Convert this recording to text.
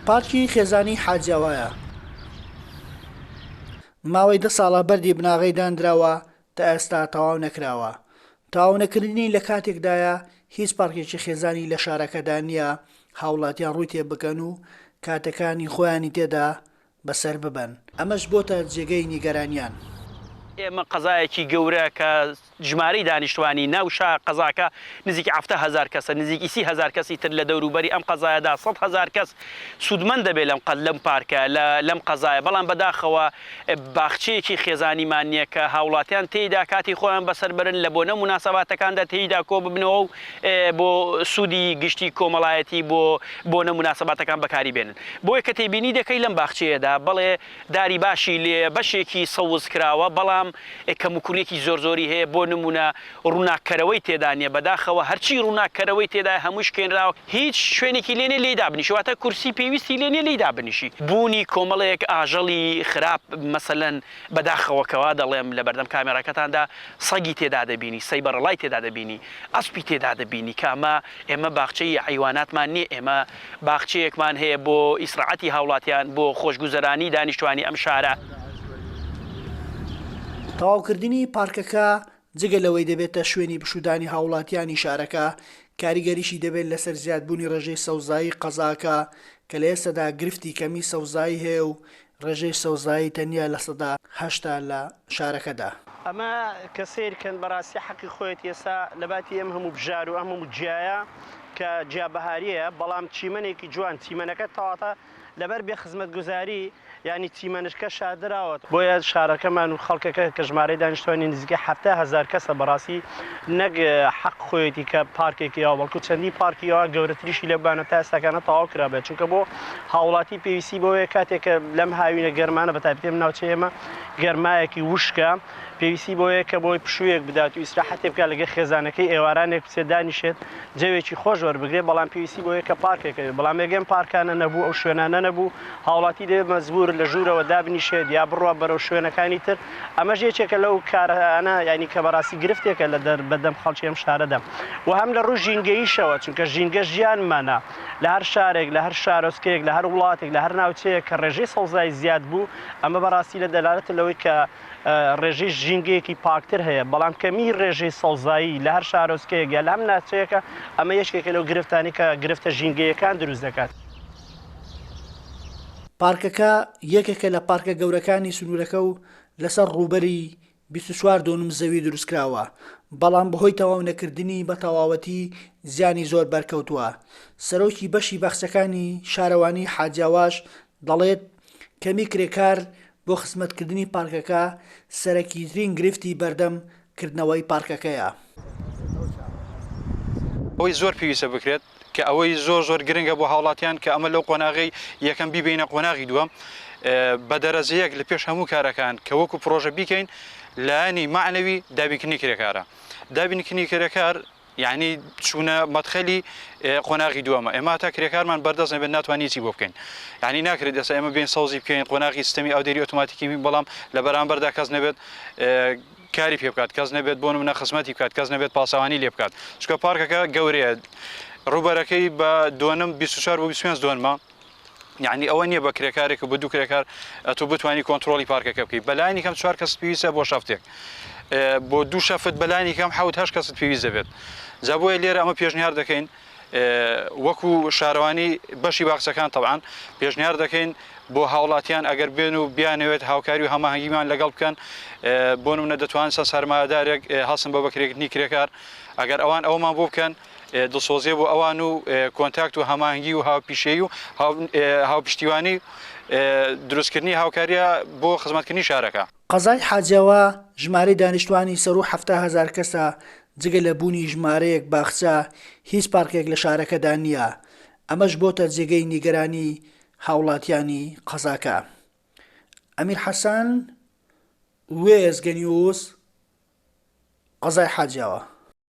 پارکی خێزانی حاجی ئەوەیە. ماوەی دە ساڵە بەردی بناغەی دانراوە تا ئێستا تەواو نەکراوە. تەواو نەکردنی لە کاتێکدایە هیچ پارکێکی خێزانی لە شارەکەدا نییە هاوڵاتیان ڕووی تێبکەن و کاتەکانی خۆیانی تێدا بەسەر ببەن، ئەمەش بۆتە جێگەی نیگەرانیان. ئێمە قەزایەکی گەورە کە ژمارەی دانیشتوانی ناو شا قەزاکە نزیکی حەفتا هەزار کەسە نزیکی سی هەزار کەسی تر لە دەورو بەری ئەم قەزایەدا سەد هەزار کەس سودمەند دەبێت لەم قە لەم پارکە لە لەم قەزایە بەڵام بەداخەوە باخچەیەکی خێزانیمان نیە کە هاوڵاتیان تێیدا کاتی خۆیان بەسەر بەرن لە بۆنە موناسەباتەکاندا تێیدا کۆببنەوەو بۆ سودی گشتی کۆمەڵایەتی بۆ بۆنە موناسەباتەکان بەکاری بێنن بۆیە کە تێبینی دەکەی لەم باخچەیەدا بەڵێ داری باشی لێ بەشێکی سەوز کراوە بەڵام کەم و کوریەکی زۆر زۆری هەیە بۆ نمونە ڕوناک کەرەوەی تێدا نیە بەداخەوە هەرچی ڕوناک کەرەوەی تێدایە هەمووی شکێنراوە هیچ شوێنێکی لێ نیە لێی دابنیشی واتە کورسی پێویستی لێ نیە لێی دابنیشی بونی کۆمەڵێک ئاژەڵی خراپ مەسەلەن. بەداخەوە کەوا دەڵێم لەبەردەم کامێراکەتاندا سەگی تێدا دەبینی، سەیبەڕڵای تێدا دەبینی، ئەسپی تێدا دەبینی کە ئەمە ئێمە باخچەی حەیواناتمان نیە ئێمە باخچەیەکمان هەیە بۆ ئیسڕاحەتی هاوڵاتیان بۆ خۆشگوزەرانی دانیشتوانی ئەم شارە. تەواوکردنی پارکەکە جگە لەوەی دەبێتە شوێنی پشوودانی هاوڵاتیانی شارەکە، کاریگەریی دەبێت لەسەر زیادبوونی ڕێژەی سەوزایی قەزاکە، کە لە ئێستەدا گرفتی کەمی سەوزایی هەیە و ڕێژەی سەوزایی تەنیا لە سەدا هەشتا لە شارەکەدا. ئەمە کە سەیر کەن بەڕاستی حەقی خۆیەتی ئێستا لەباتی ئەم هەموو بژار و ئەم هەموو گیایە کە گیابەهاریە بەڵام چیمەنێکی جوان چیمەنەکە تەواتە لەبەر بێ خزمەتگوزاری یانی چیمەنشکە شاردراوەتەوە. بۆیە شارەکەمان و خەڵکەکە کە ژمارەی دانیشتوانی نزیکەی حەفتا هەزار کەسە بەڕاستی نەک حەق خۆیەتی کە پارکێکی ئاوا بەڵکو چەندین پارکی ئاوا گەورەتریشی لەو بانەتا ئێستاکانە تەواو کرابێت چونکە بۆ هاوڵاتی پێویستی بەوەیە کاتێک کە لەم هاوینە گەرمانە بەتایبەتی ئەم ناوچەی ئێمە گەرمایەکی وشکە پێویستی بەوەیە کە بۆی پشوویەک بدات و ئیسراحەتێ بکات لەگەر خێزانەکەی ئێوارانێک بچێت دانیشێت جەوێکی خۆش وەربگرێت بەڵام پێویستی بەوەیە کە پارکێک هەبێت بەڵام ئێگەم پارکانە نەبوو ئەو شوێنانە نەبوو هاوڵاتی دەبێت مەجبور لە ژوورەوە دابنیشێت یا بڕوات بەرەو شوێنەکانی تر ئەمەش یەکێکە لەو کارانە یانی کە بەڕاستی گرفتێکە لە دەر بەدەم خەڵکی ئەم شارەدا و هەم لە ڕووی ژینگەییشەوە چونکە ژینگە ژیانمانە لە هەر شارێک لە هەر شارۆچکەیەک لە هەر وڵاتێک لە هەر ناوچەیەک کە ڕێژەی سەوزایی زیاد بوو ئەمە بەڕاستی لە دەلالەتە لەوەی کە ڕێژەی ژینگەیەکی پاکتر هەیە، بەڵام کەمیی ڕێژەی سەوزایی لە هەر شارۆچکەیەک یا لە هەم ناچەیەکە، ئەمە یەکێکە لەو گرفتانەی کە گرفتە ژینگەییەکان دروست دەکات. پارکەکە یەکێکە لە پارکە گەورەکانی سنوورەکە و لەسەر ڕووبەری بیست و چوار دۆنم زەوی دروستکراوە، بەڵام بەهۆی تەواونەکردنی بە تەواوەتی زیانی زۆر بەرکەوتووە. سەرۆکی بەشی باخچەکانی شارەوانیی حاجیاواش دەڵێت، کەمی کرێکار بۆ خزمەتکردنی پارکەکە سەرەکیترین گرفتی بەردەم کردنەوەی پارکەکەیە. ئەوەی زۆر پێویستە بکرێت کە ئەوەی زۆر زۆر گرنگە بۆ هاوڵاتیان کە ئەمە لەو قۆناغەی یەکەم بیبەینە قۆناغی دووەم بە دەرەجەیەک لە پێش هەموو کارەکان کە وەکو پرۆژە بیکەین لایەنی مەعنەوی دابینکردنی کرێکارە دابینکردنی کرێکار یەعنی چوونە مەدخەلی قۆناغی دووەمە ئێمە هەتا کرێکارمان بەردەست نەبێت ناتوان هیچی بۆ بکەین یعنی ناکرێت ئێستا ئێمە بین سەوزی بکەین قۆناغی سیستەمی ئەو دەری ئۆتوماتیکی بەڵام لە بەرامبەردا کەس نەبێت کاری پێ بکات کەس نەبێت بۆ منە خزمەتی بکات کەس نەبێت پاسەوانی لێ بکات چکە پارکەکە گەورەیە ڕوبەرەکەی بە دۆنم 24 بۆ 25 دۆنمە یانی ئەوە نییە بە کرێکارێک و بە دوو کرێکار ئەتو بتانی کۆنتترۆلی پارکەکە بکەیت بەلانی کەم چوار کەس پێویستە بۆ شەفتێک بۆ دوو شەفت بەلانی کەم حوت هەش کەست پێویست دەبێت جا بۆیە لێرە ئەمە پێشنیار دەکەین وەکو شارەوانی بەشی باخچەکان تەوان پێشنیار دەکەین بۆ هاوڵاتیان ئەگەر بێن و بیانەوێت هاوکاری و هەماهنگگیمان لەگەڵ بکەن بۆ منە دەتوان سە سەرمادارێک هەڵسم بە بەکرێکتنی کرێکار ئەگەر ئەوان ئەومان بۆ بکەن دڵسۆزیە بۆ ئەوان و کۆنتاکت و هەمانگی و هاوپیشەی و هاوپشتیوانی دروستکردنی هاوکاریە بۆ خزمەتکردنی شارەکە. قەزای حاجاوا ژمارەی دانیشتوانی سەروو حەفتا هەزار کەسە، جگە لە بوونی ژمارەیەک باخچە، هیچ پارکێک لە شارەکەدا نییە، ئەمەش بۆتە جێگەی نیگەرانی هاوڵاتیانی قەزاکە. ئەمیر حەسەن، وێستگەنیوز، قەزای حاجیاوا.